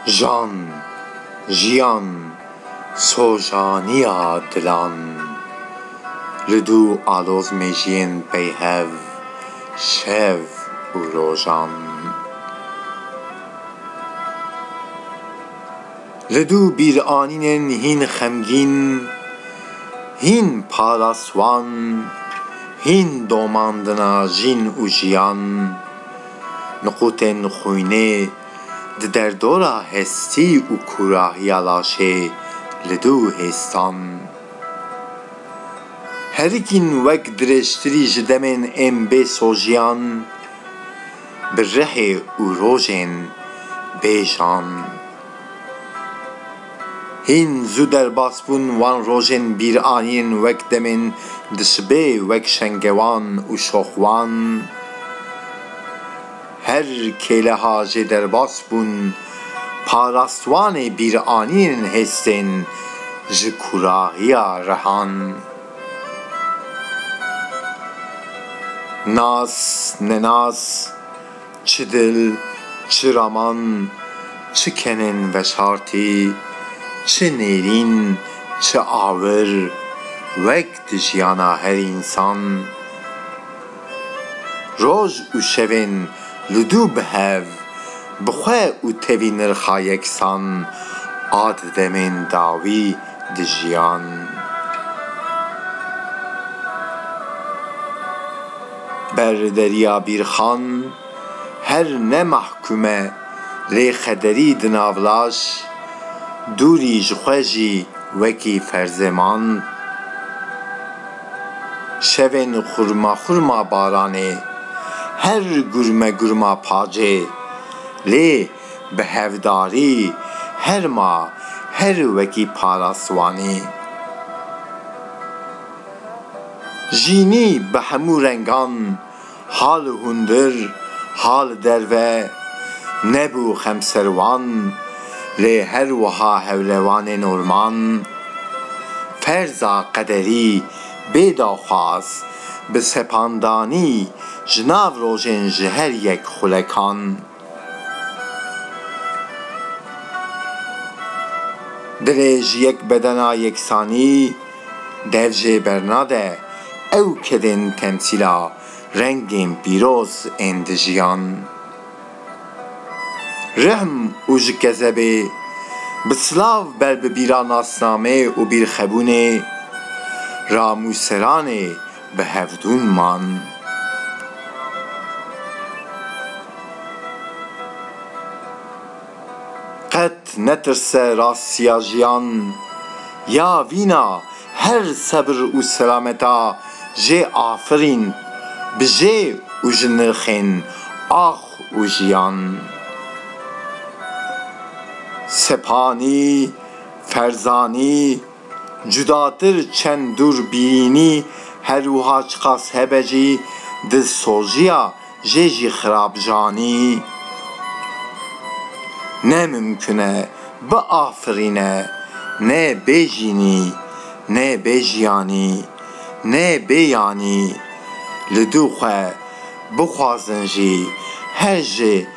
Jan, jiyan, sojaniya dilan Li du aloz mejiyên peyhev şev û rojan. Li du bîranînên hîn xemgîn, hîn paraswan, hîn domandina jîn û jiyan, niqûtên xwînê di derdora hestî û kûrahiya laşê li du hêstan. Herikîn wek dirêjtirî ji demên ên bê sojiyan. Bi rihê û rojên bêjan. Hîn zû derbas bûn wan rojên bîranîn wek demên dişibê wek şengewan û şoxwan. Her kêleha jê derbas bûn parastwanê bîranîn hêstên ji kûrahiya rihan. Nas, nenas, çi dil, çi raman, çi kenên veşartî, çi nêrîn, çi awir, wek di jiyana her însan. Roj û şevên li dû bi hev, bi xwe û tevî nirxa yeksan a di demên dawî dijiyan. Ber Derya Bîrxan her ne mahkûm e lê xederî di navlaş dûrî ji xwe jî wekî ferzêman. Şevên xurma xurma baranê, her gurme gurma pacê, lê bi hevdarî her ma her wekî para siwanî. Jînî bi hemû rengan. Ha li hundir, ha li derve nebû xemser wan, lê her wiha hewlewanên orman, ferza qederî bê daxwaz, bi sepandanî ji nav rojên ji her yek xulekan. Divê ji yek bedena yeksanî dev jê bernade, ew kedên temsîla rengên pîroz ên di jiyan, rihm û ji kezebê bi silav ber bi bîra nasnamê û bîrxebûnê ra mûseranê Bi hevdûn man. Qet netirse rastiya jiyan. Ya vîna her sebir û selameta jê afirîn bi jê û ji nirxên ax û jiyan. Sepanî, Ferzanî. Cudatir çend dûrbînî her wiha çiqas hebe jî dilsoziya jê jî xirab janî. Ne mimkun e biafirîne, ne bê jînî, ne bê jiyanî, ne bê yanî li dû xwe bixwazin jî her ji